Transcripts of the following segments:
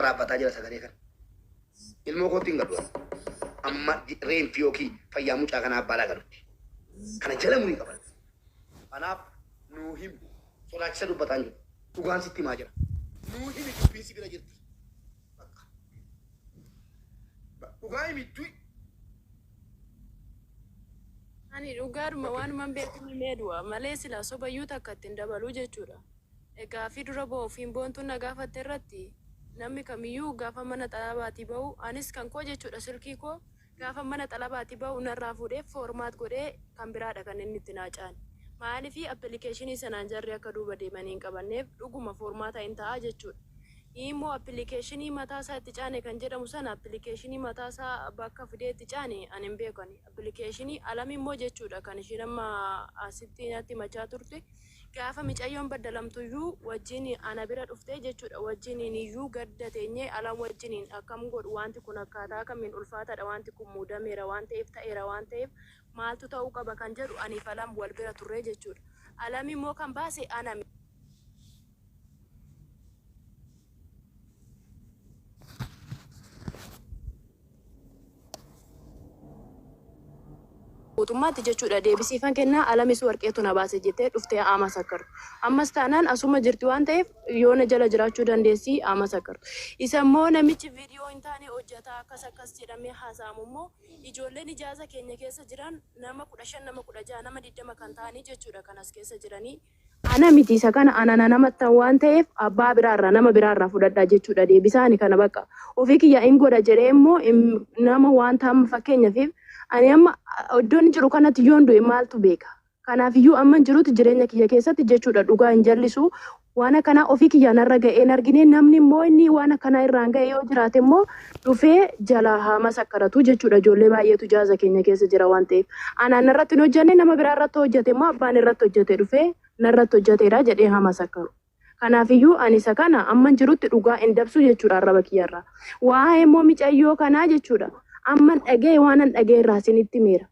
waraabbataa jira sagalee kana. Ilmoo kootti hin galu ani. Amma ji- reenfi yookiin fayyaa mucaa kanaa abbaa laa galutti. Kana jala murii qaba. Kanaaf nuu himi. Sodaachisa dubbataa hin jiru. Dhugaan sitti himaa jira. Nuu himi dubbiin si bira jirti. Bakka. Ba- Dhugaa himi du'i. Ani dhugaadhuma waanuman beeku himee du'a malee silaa sobayyuu takka ittiin dabaluu jechuudha. Gaaffii dura ba'uuf hin boontuun na gaafatte irratti namni kamiyyuu gaafan mana xalabaatii ba'u anis kan koo jechuudha silkii koo gaafan mana xalabaatii ba'u narraa fuudhee format godhee kan biraadha kan inni itti naa caale. Maaliif appilikeeshinii sanaan jarri akka duuba deemanii hin qabanneef dhuguma formaata in ta'aa jechuudha. Imoo appilikeeshinii mataa isaa itti caane kan jedhamu sana appilikeeshinii mataa isaa bakka fidee itti caane ani hin beeku ani. Appilikeeshinii Alamimmoo jechuudha kan ishiin amma asitti natti himachaa turte. Gaafa micayyoon baddalamtuyyuu wajjin ana bira dhuftee jechuudha wajjiniiniyyuu gadda teenyee alan wajjiniin akkam godhu waanti kun akkaataa kamiin ulfaataadha waanti kun muudameera waan ta'eef ta'eera waan ta'eef maaltu ta'uu qaba kan jedhu aniif alam wal bira turree jechuudha alam immoo kan baase ana Guutummaatti jechuudha deebisiifan kennaa Alamiis Warqeetu na baase jettee dhuftee haa masakkartu. Ammas taanaan asuma jirti waan ta'eef yoo na jala jiraachuu dandeessi haa masakkartu. Isa immoo namichi viidiyoo hin taane hojjata akkas akkas jedhamee haasa'amu immoo ijoolleen ijaaza keenya keessa jiran nama 15 nama 16 nama 20 kan ta'anii jechuudha kan as keessa jiranii. Ana miti isa kana ana na namattan waan ta'eef abbaa biraa irraa nama biraa irraa fudhadha jechuudha deebisaa ani kana baqqa ofii kiyyaa in godha jedhee immoo im nama waanta amma fakkeenyafiif ani amma iddoon jiru kanatti yoon du'e maaltu beeka kanaaf iyyuu amman jirutti jireenya kiyya keessatti jechuudha dhugaa hin jallisu waan akkanaa ofii kiyyaa narra ga'ee hin argine namni immoo inni waan akkanaa irraan ga'e yoo jiraate immoo dhufee jalaa haa masakkaratu jechuudha ijoollee baay'eetu jaaza keenya keessa jira waan ta'eef anaan narratti hin hojjanne nama biraa irratti hojjate immoo abbaan irratti hojjate dhufee narratti hojjateedha jedhee haa masakkaru kanaafiyyuu ani isa kana amman jirutti dhugaa hin dabsu jechuudha arraba kiyyarraa waa'ee immoo micayyoo kanaa jechuudha amman dhaga'e waanan dhaga'e irraa isinitti meera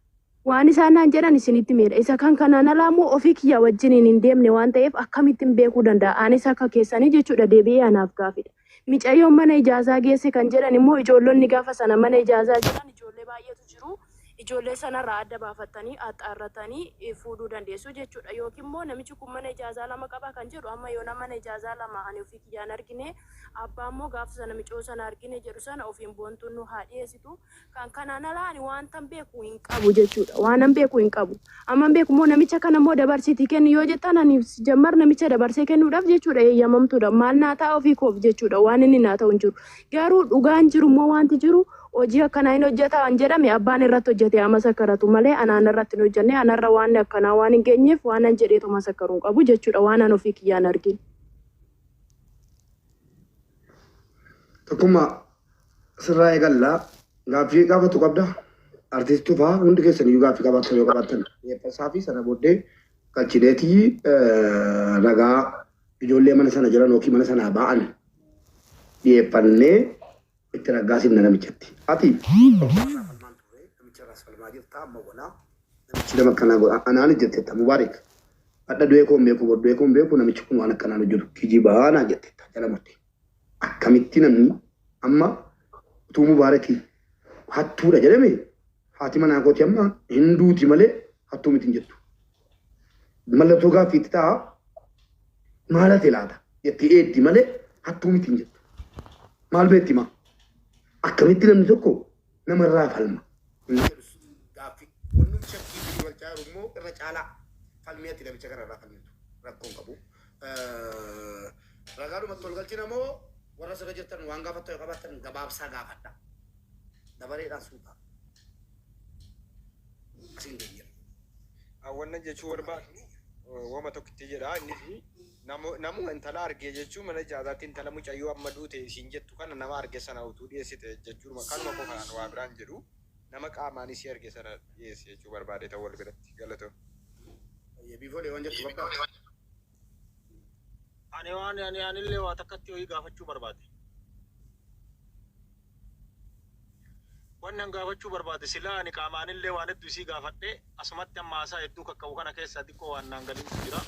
Waan isaan naan jedhan isinitti himeera. Isa kan kanaan alaa immoo ofii kiyyaa wajjiniin hin deemne waan ta'eef akkamittin beekuu danda'a? Anis akka keessanii jechuudha deebi'ee anaaf gaafidha. Micayyoon mana ijaazaa geesse kan jedhan immoo ijoollonni gaafa sana mana ijaazaa jiran ijoollee baay'eetu jiru. Ijoollee sanarraa adda baafattanii axxaarrattanii fuudhuu dandeessu jechuudha. Yookiin immoo namichi kun mana ijaazaa lama qaba kan jedhu amma yoonaa mana ijaazaa lama ani ofii kiyyaa hin argine abbaa immoo gaafa sana micayoo sana argine jedhu sana ofiin boontuun nuu haa dhiyeessitu. Kan kanaan alaa ani waantan beeku hin qabu jechuudha. Waanan beeku hin qabu. Amman beeku immoo namicha kana immoo dabarsiitii kenni yoo jettan ani jammar namicha dabarsee kennuudhaaf jechuudha eeyyamamtuudha. Maal naa ta'a ofii koof jechuudha waan inni naa ta'u hin jiru. Garuu dhugaan jiru immoo wanti jiru hojii akkanaa hin hojjeta waan jedhame abbaan irratti hojjete haa masakkaratu malee anaan irratti hin hojjenne anarra waan akkanaa waan hin geenyeef waanan jedheetu masakkaru hin qabu jechuudha waan an ofii kiyyaan argin. Tokkummaa Sirraa eegalla. Gaaffii gaafatu qabda. Artiist Tufaa hundi keessan iyyuu gaaffii qabaattan yoo qabaattan dhiyeeffasaa fi sana booddee galchineeti ragaa ijoollee mana sana jiran yookiin mana sanaa ba'an dhiyeeffannee itti raggaasifna namichatti. Ati namicharraas falmaa jirta amma walaa namichi nama akkanaa godha anaan jettetta Mubaarik hadha du'ee koon beeku bor du'ee koon beeku namichi kun waan akkanaan hojjetu kijibaa naan jettetta jala murtee. Akkamitti namni amma utuu Mubaaraki hattuudha jedhame haati manaa kooti amma hin duuti malee hattuu miti hin jettu. Mallattoo gaaffii itti ta'a maal hate laata jettee eegdi malee hattuu miti hin jettu. Maal beekti maa? Akkamitti namni tokko namarraa falma. Hin jedhus. Gaaffii. Wannum shakkii fi duwalchaa jiru immoo irra caalaa falmii ati namicha kana irraa falmitu. Rakkoon qabu. Ragaadhumatti wal galchina moo warra sirra jirtan waan gaafattan yoo qabaattan gabaabsaa gaafadha. Dabareedhaan suuta. Asiin deebi'a. Awwanna jechuu barbaadu wama tokkitti jedha inni fi Namuma intala arge jechuun mana ijaazaatti intala mucayyoo amma duute isiin jettu kana nama arge sana utuu dhiyeessite jechuudhuma kanuma qofa an waa biraa hin jedhu nama qaamaan isii arge sana dhiyeessi jechuu barbaadeetan wal biratti galatoomi. Hayyee biifole waan jettu bakka. Ani waan ani anillee waa takkatti wayii gaafachuu barbaade. Wanni an gaafachuu barbaade silaa ani qaamaanillee waan hedduu isii gaafadhe asumatti amma haasaa hedduu kakka'u kana keessaa diqqoo waan naan galintu jira.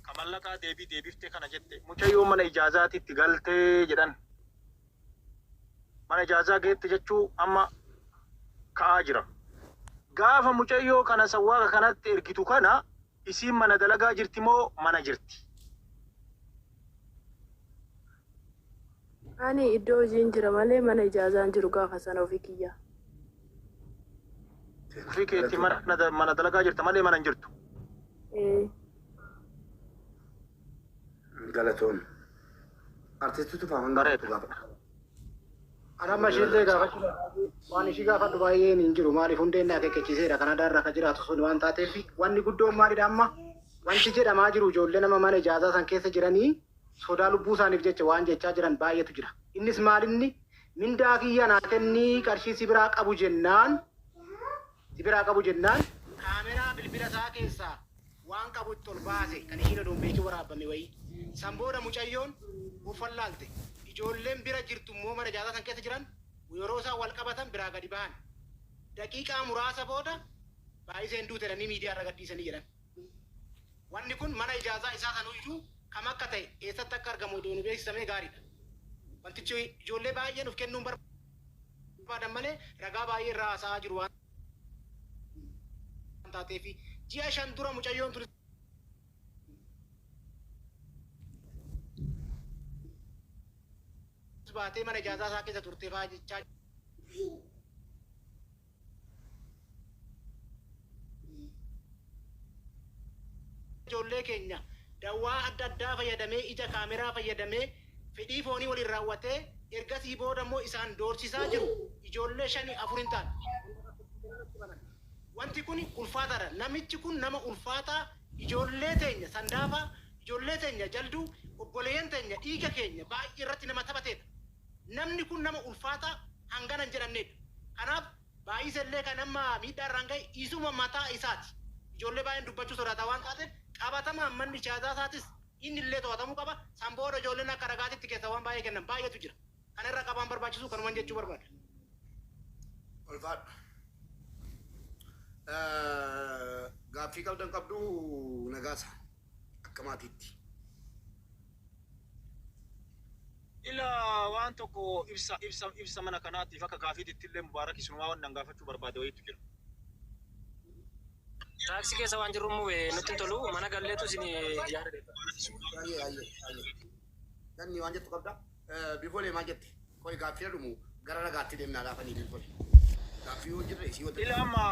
Ka mallaqaa deebii deebiftee kana jette mucayyoo mana ijaazaatitti galte jedhan. Mana ijaazaa geette jechuu amma ka'aa jira. Gaafa mucayyoo kana sawwaaqa kanatti ergitu kana isiin mana dalagaa jirti moo mana jirti? Ani iddoo hojiin jira malee mana ijaazaan jiru gaafa sana ofii kiyyaa. Ofii keetii mana mana dalagaa jirta malee mana hin jirtu. Ee. Galatoon. Artistu tufaa hanga Bareeda. tokko gaafadha. Ana amma ishiillee gaafachuu barbaadu waan ishii gaafadhu baay'een hin jiru maaliif hundeen na akeekkachiiseera Kanadaa irra kan jiraatu sun waan taateef wanni guddoon maalidha amma wanti jedhamaa jiru ijoollee nama mana ijaazaa san keessa jiranii sodaa lubbuu isaaniif jecha waan jechaa jiran baay'eetu jira. Innis maalinni, mindaa kiyya naa kenni qarshii si biraa qabu jennaan si biraa qabu jennaan kaameraa bilbila isaa keessaa waan qabu itti ol baase kan ishiin odoo hin beekin waraabbame wayii. San booda mucayyoon of wallaalte. Ijoolleen bira jirtu immoo mana ijaarsaa san keessa jiran yeroo isaan wal qabatan biraa gadi bahan. Daqiiqaa muraasa booda Baayiseen duute jedhanii miidiyaa irra gadhiisanii jedhan. Wanni kun mana ijaazaa isaa sanuyyuu kam akka ta'e, eessatti akka argamu odoo nu beeksisamee gaariidha. Wantichi ijoollee baay'een uf kennuun barbaadan malee ragaa baay'ee irraa haasa'aa jiru waan taateefi. Ji'a shan dura mucayyoon tun baatee mana ijaazaa isaa keessa turte fa'aa jechaa ijoollee keenya dawaa adda addaa fayyadamee ija kaameraa fayyadamee fedhii foonii waliin raawwatee ergasii booda immoo isaan doorsisaa jiru ijoollee shani afur hin taane kan lakkoofsiisanii natti himan wanti kun ulfaataadha namichi kun nama ulfaataa ijoollee teenya sandaafaa ijoollee teenya jalduu obboleeyyan teenya dhiiga keenya baay'ee irratti nama taphateedha. Namni kun nama ulfaataa hangana hin jedhamneedha. Kanaaf Baay'isa illee kan amma miidhaa irraan gahe isuma mataa isaati. Ijoollee baay'een dubbachuu sodaata waan taateef qabatamaan manni ijaazaa isaatis inni illee to'atamuu qaba. San booda ijoolleen akka ragaatitti keessaa waan baay'ee kennan baay'eetu jira. Kana irra qabaan barbaachisu kanuman jechuu barbaada. Ulfaadhu. Gaaffii qabdan qabduu Nagaasa? akka maatiitti. Ila waan tokko ibsa ibsa ibsa mana kanaatiif akka gaafiititti illee Mubaarak isinumaa wanni an gaafachuu barbaade wayiitu jira. Taaksii keessa waan jirruuf mube nutti hin tolu mana galleetu isin yaada deebifna. Ayyee ayyee ayyee. Ganni waan jettu qabda. Bikolee maal jette? Qoy gaaffii dhumu gara ragaatti deemnaa laafanii bilbole. Gaaffii yoo jirre isii wajjin. Ila amma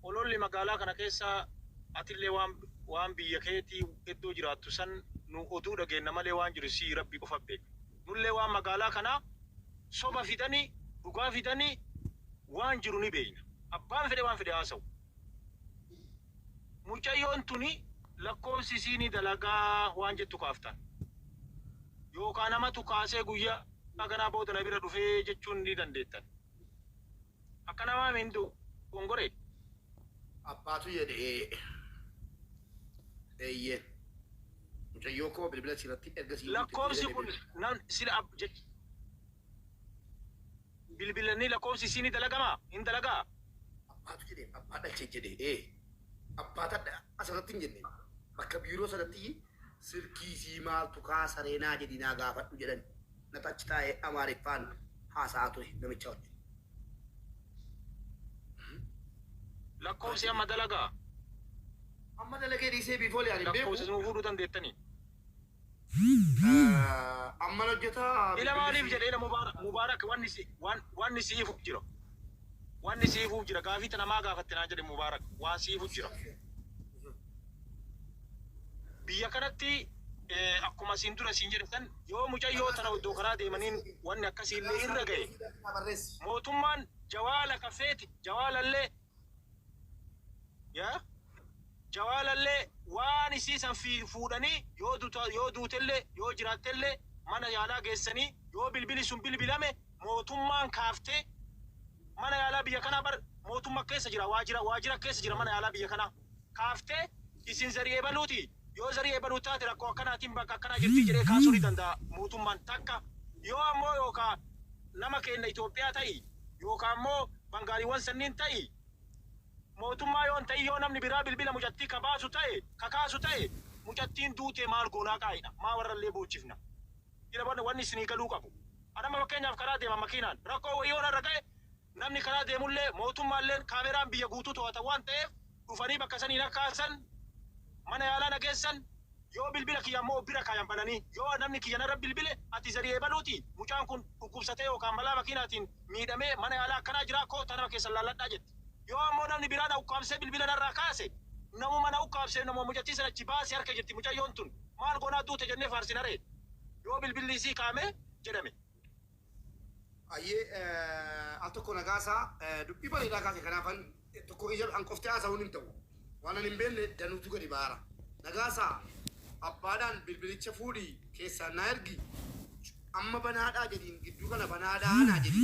ololli magaalaa kana keessa atillee waan waan biyya keetii iddoo jiraattu san nu oduu dhageenna malee waan jiru sii rabbi qofa beeka. Nullee waan magaalaa kana soba fidani dhugaa fidani waan jiru ni beekna. Abbaan fedhe waan fedhe haasa'u. Mucayyoon tuni lakkoofsi isii ni dalagaa waan jettu kaaftan. Yookaa namatu kaasee guyyaa kanaa booda na bira dhufee jechuun ni dandeettan. Akkana maami hin dogongore? Abbaatu jedhe ee. Eeyyee. Mucayyoo koo bilbila siirratti erga sii guutte Lakkoofsi kun nam sila ab jechuu. Bilbilannii lakkoofsi isii ni dalagama? Hin dalagaa? Abbaatu jedheen abbaa dhalche jedhe ee abbaa tadha asirratti hin jenneen bakka biiroo sanattiyi silkii isii maaltu kaa saree naa jedhii naa gaafadhu jedhan natu achi taa'ee amaariffaan haasa'aa ture namichaa wajjin. Lakkoofsi amma dalagaa? Amma dalagee dhiisee biifoo liyaan hin beeku. Lakkoofsa isin fuudhuu dandeettanii? Amman hojjetaa Ila maaliif jedhe ila mubarak mubarak wanni si wan wanni siifu jira wanni siifu jira gaafii tana maa gaafatte naan jedhe mubarak waan siifu jira biyya kanatti akkuma siin dura siin jedhe san yoo mucayyoo tana oddoo karaa deemaniin wanni akkasii illee irra gahe mootummaan jawaala ka feete jawaalallee Yaa jawaalallee waan isii san fiilu fuudhanii yoo duta yoo duutellee yoo jiraattellee mana yaalaa geessanii yoo bilbili sun bilbilame mootummaan kaaftee mana yaalaa biyya kanaa bar mootumma keessa jira waajira waajira keessa jira mana yaalaa biyya kanaa. kaaftee isin zarii ebaluuti yoo zarii ebaluu taate rakkoo akkanaatiin bakka akkanaa jirtii jedhee kaasuu ni danda'a mootummaan takka yoo ammoo yookaa nama keenna Itoophiyaa ta'i yookaa ammoo bangaaliwwan sanniin ta'i mootummaa yoo hin ta'in yoo namni biraa bilbila mucattii ka baasu ta'e ka kaasu ta'e mucattiin duutee maal goonaa qaa'idha maa warrallee boochifna ila wanni isinii galuu qabu an amma fakkeenyaaf karaa deema makiinaan rakkoo wayii yoo narra ga'e Namni karaa deemullee, mootummaalleen kaameraan biyya guutuu to'ata waan ta'eef dhufanii bakka sanii na kaasan, mana yaalaa na geessan, yoo bilbila kiyya ammoo of bira kaayan bananii yoo namni kiyya narra bilbile ati Zarii ebaluutii? Mucaan kun dhukkubsatee yookaan balaa makiinaatiin miidhamee mana yaalaa akkanaa jiraa kottaa nama keessan laalladhaa jetti. Yoo ammoo namni biraa na ukkaamsee bilbila narraa kaase namuma na ukkaamseef namuma mucattii san achi baase harka jirti mucayyoon tun maal goonaa duute jennee faarsinaree yoo bilbilli isii kaa'ame jedhame. Hayyee al tokko na kaasa dubbii bareedaa kaase kanaafan tokko kiyya an qofti haasa'uun hin ta'u waanan hin beekne danuutu gadi baara nagaasa abbaadhaan bilbilicha fuudhi keessaan naa ergi amma banaadhaa jedhiin gidduu kana banaadhaa naa jedhi.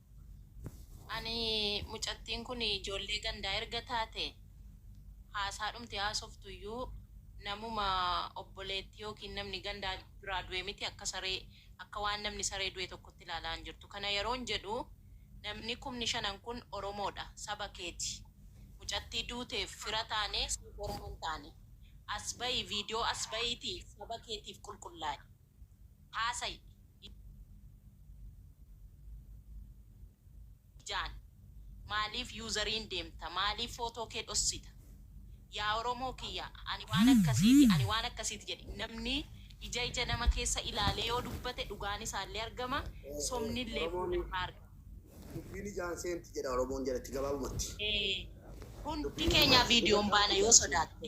Ani mucattiin kun ijoollee gandaa erga taate haasaadhumti haasoftu iyyuu namuma obboleettii yookiin namni gandaa biraa du'e miti akka saree akka waan namni saree du'e tokkotti ilaalaa hin jirtu kana yeroon jedhu namni kumni shanan kun oromoodha saba keeti mucattii duuteef fira taanee siif orma hin taane as ba'i viidiyoo as ba'iitii saba keetiif qulqullaa'i. haasayi ijaan maaliif useriin deemta maaliif footoo kee dhossita yaa oromoo kiyya ani waan akkasiiti ani waan akkasiiti jedhi namni ija ija nama keessa ilaalee yoo dubbate dhugaan isaallee argama sobnillee booda irraa argama. Dubbiin ijaan seenti jedha oromoon jedhatti gabaabumatti. Hundi keenyaa viidiyoon baana yoo sodaatte.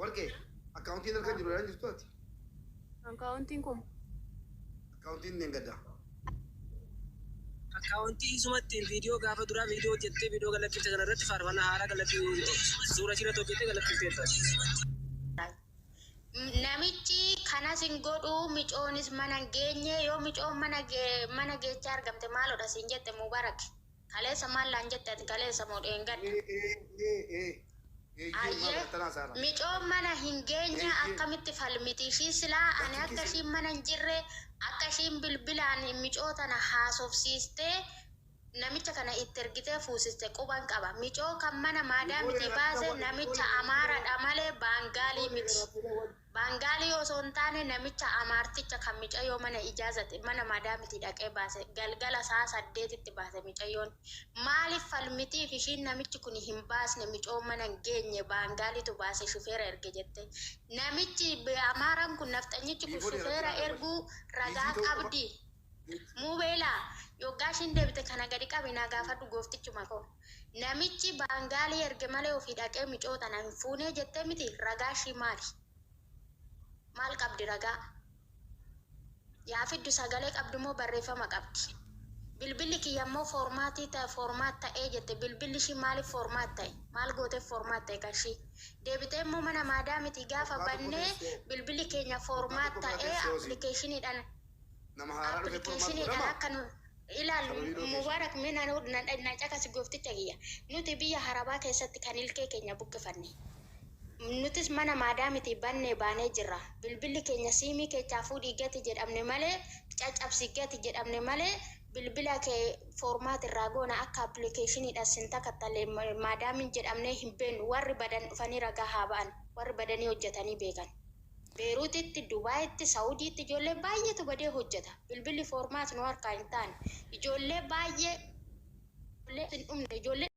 Warqee, akkaawuntiin harka hin jiru jedhaa hin jirtuu ati? Akkaawuntiin kun. Akkaawuntiin dheengaddaa. Akkaawuntii isuma ittiin viidiyoo gaafa duraa viidiyoo hojjettee viidiyoo gad lakkifte kana irratti faarfannaa haaraa gad lakkifte suuraa ishii irratti hojjettee gad lakkifteetta. Namichi kanas hin godhu micoonis mana hin geenye yoo micoon mana geechee argamte maaloodha siin jette Mubarak. Kaleessa maal naan jette ati kaleessa moo dheengadda? Ayye micoon mana hin geenyee akkamitti falmiti ishii silaa ani akka ishiin mana hin jirre akka ishiin bilbilaan micoo tana haasofsiistee namicha kana itti ergitee fuusiste quban qaba micoo kan mana maadaamitii baase namicha amaaradha malee baangaalii miti. Baangaalii osoo hin taane namicha Amaarticha kan micayyoo mana ijaazate mana madaamitii dhaqee baase galgala sa'a saddeetitti baase micayyoon. Maaliif falmitiif ishiin namichi kuni hin baasne micoo mana hin geenye Baangaaliitu baase shufeera erge jette. Namichi Amaaraan kun nafxanyichi kun shufeera erguu ragaa qabdi? Mubeela, yoggaa ishiin deebite kana gadi qabi naa gaafadhu gooftichuma koo. Namichi baangaalii erge malee ofii dhaqee micoo tana hin fuunee jettee miti ragaa ishii maali? Maal qabdi ragaa? Yaa fiddu sagalee qabdi moo barreeffama qabdi? Bilbilli kiyya immoo foormaatii ta'e foormaat ta'ee jette bilbilli ishii maaliif foormaat ta'e? Maal gooteef foormaat ta'e kan ishii? Deebitee immoo mana maadaamitii gaafa bannee bilbilli keenya foormaat ta'ee appilikeeshiniidhaan Nama haaraa dhufe furmaat godhama. Application-dhaan akka nu ilaallu Sababii location. Mubarak mee na nu na na caqasi goofticha kiyya. Nuti biyya harabaa keessatti kan ilkee keenya buqqifanne. Nutis mana maadaamitii bannee baanee jirra. Bilbilli keenya siimii keechaa fuudhii gati jedhamne malee caccabsi gati jedhamne malee bilbila kee formaat irraa goona akka application-dhaan sin takattalle maadaamiin jedhamnee hin beennu. Warri badan dhufanii ragaa haa ba'an. Warri badanii hojjatanii beekan. Beerutitti, Dubaayitti, Sa'udiitti ijoollee baay'eetu badee hojjeta. Bilbilli format nu harkaa hin taane. Ijoollee baay'ee ijoollee hin dhumne ijoollee.